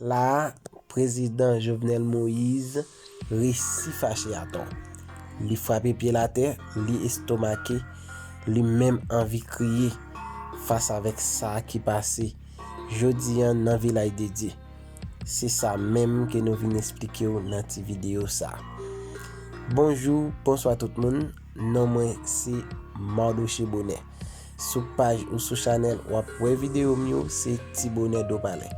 La a, prezidan Jovenel Moise resi fache atò. Li frape pye l atè, li estomake, li menm anvi kriye fas avèk sa ki pase jodi an nan Vilaj de Dye. Se sa menm ke nou vin esplike w nan ti videyo sa. Bonjou, bonswa tout moun. Non mwen se Mardoche Bonè. Sou paj ou sou chanèl w ap wè videyo m yo se Ti Bonè Dopale.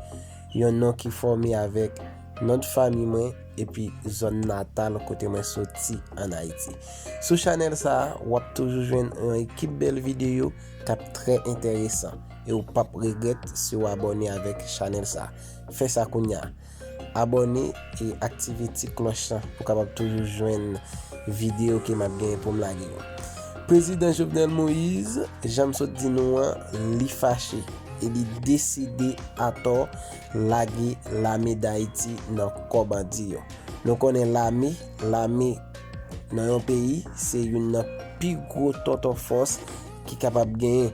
Yon non ki fòme avèk non de fami mwen epi zòn natal kote mwen soti an Ayiti. Sou chanèl sa a, w ap toujou jwenn yon ekip bèl videyo k ap trè enteresan e w pap regrèt si w abòne avèk chanèl sa. Fè sa kounya! Abòne e aktive ti klòch la pou kapab toujou jwenn videyo ke map gen poum lage yo. Prezidan Jovenel Moise, janm sot di nou an, li fache e li deside atò lage lame dayiti nan kò bandi yo. Nou konnen lame, lame nan yon peyi se youn nan pi gwo tonton fòs. ki kapab genyen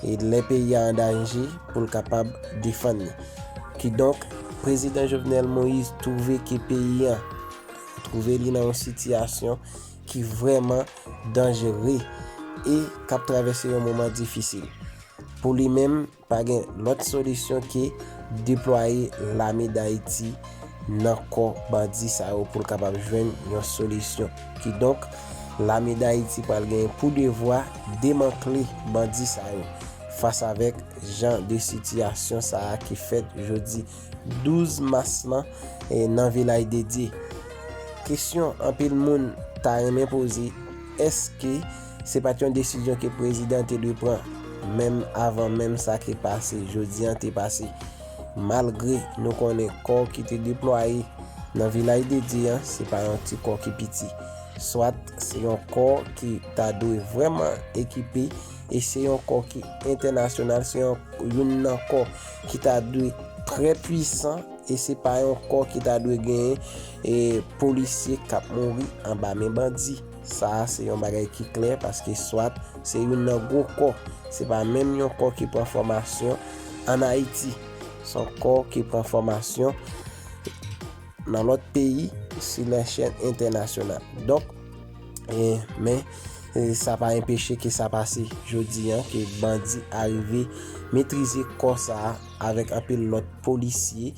e lè peyi a an danje pou l kapab defann li. Kidonk, Prezidan Jovenel Moïse twouve ke peyi an twouve li nan yon sitiyasyon ki vrèman danjere e k ap travèse yon moman difisil. Pou li menm. Pa gen lòt solisyon ke deplwaye lame Dayiti nan kò bandi sa yo pou l kapab jwenn yon solisyon. Kidonk, lame Dayiti pral genyen pou devwa demantle bandi sa yo. Fas avèk jan de sitiyasyon sa a ki fèt jodi 12 mas lan nan Vilaj Dedye, kesyon anpil moun ta renmen poze, èske. Se pat yon desizyon ke prezidan te dwe pran menm avan menm sa ki pase jodi an te pase. Malgre nou konnen kò ki te deplwaye nan Vilaj de Dye an se pa yon ti kò ki piti. Swat se yon kò ki ta dwe vrèman ekipe e se yon kò ki entènasyonal, se yon youn nan kò ki ta dwe trè pwisan e se pa yon kò ki ta dwe genyen polisye k ap mouri anba men bandi. Sa a se yon bagay ki klè paske swat se youn nan gwo kò, se pa menm yon kò ki pran fòmasyon ann Ayiti. Se yon kò ki pran fòmasyon nan lòt peyi sou lèchèl entènasyonal. Donk, men, sa pa enpeche ke sa pase jodi an, ke bandi arive metrize kò sa a avèk anpil lòt polisye.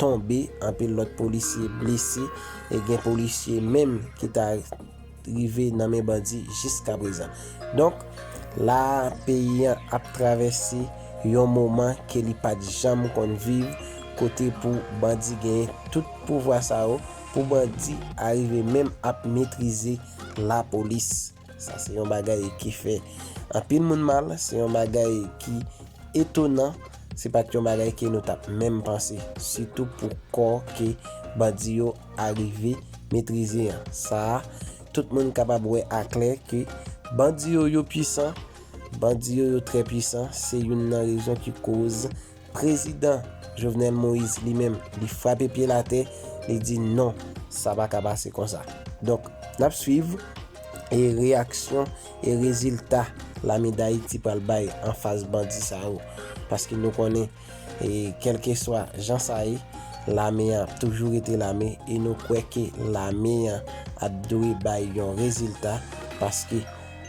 tonbe, anpil lòt polisye blese, e gen polisye menm ki ta rive nan men bandi jiskaprezan. Donk, la a, peyi an ap travèse yon moman ke li pa t janm konn viv, kote pou bandi genyen tout pouvwa sa yo, pou bandi arive menm ap metrize lapolis. Sa se yon bagay ki fè anpil moun mal, se yon bagay ki etonan, se pat yon bagay ke nou tap menm panse, sitou pou kò ke bandi yo arive metrize an. Sa a, tout moun kapab wè a klè ke bandi yo yo pwisan, bandi yo yo trè pwisan, se youn nan rezon ki koz. Prezidan Jovenel Moïse li menm li frape pye l atè, li di non sa pa ka pase konsa. Donk n ap swiv e reyaksyon e rezilta lame Dayiti pral bay anfas bandi sa yo paske nou konnen e kèlkeswa jan sa ye lame an ap toujou rete lame e nou kwè ke lame an ap dwe bay yon rezilta paske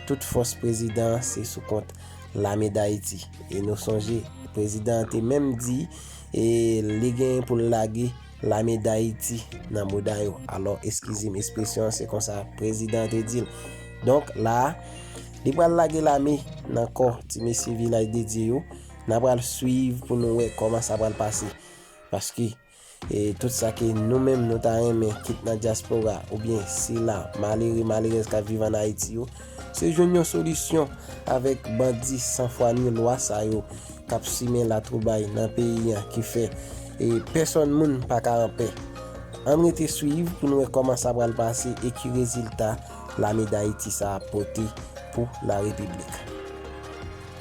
tout fòs prezidan an se sou kont lame Dayiti. E nou sonje, prezidan an te menm di e li genyen pou l lage lame Dayiti nan mouda yo. Alò, eskize m espresyon an se konsa prezidan an te di l. Donk la, li pral lage lame nan kò ti mesye Vilaj Dedye yo. N apral suiv pou nou wè kòman sa pral pase. Paske. E tout sa ke nou menm nou ta renmen kit nan dyaspora oubyen sila malere malerèz kap viv an Ayiti yo, se jwenn yon solisyon avèk bandi san fwa ni lwa sa yo kap simen latwoubay nan peyi an ki fè e pèsòn moun pa ka an pè. Ann rete swiv pou n wè kòman sa pral pase e ki rezilta lame Dayiti sa ap pote pou la Repiblik.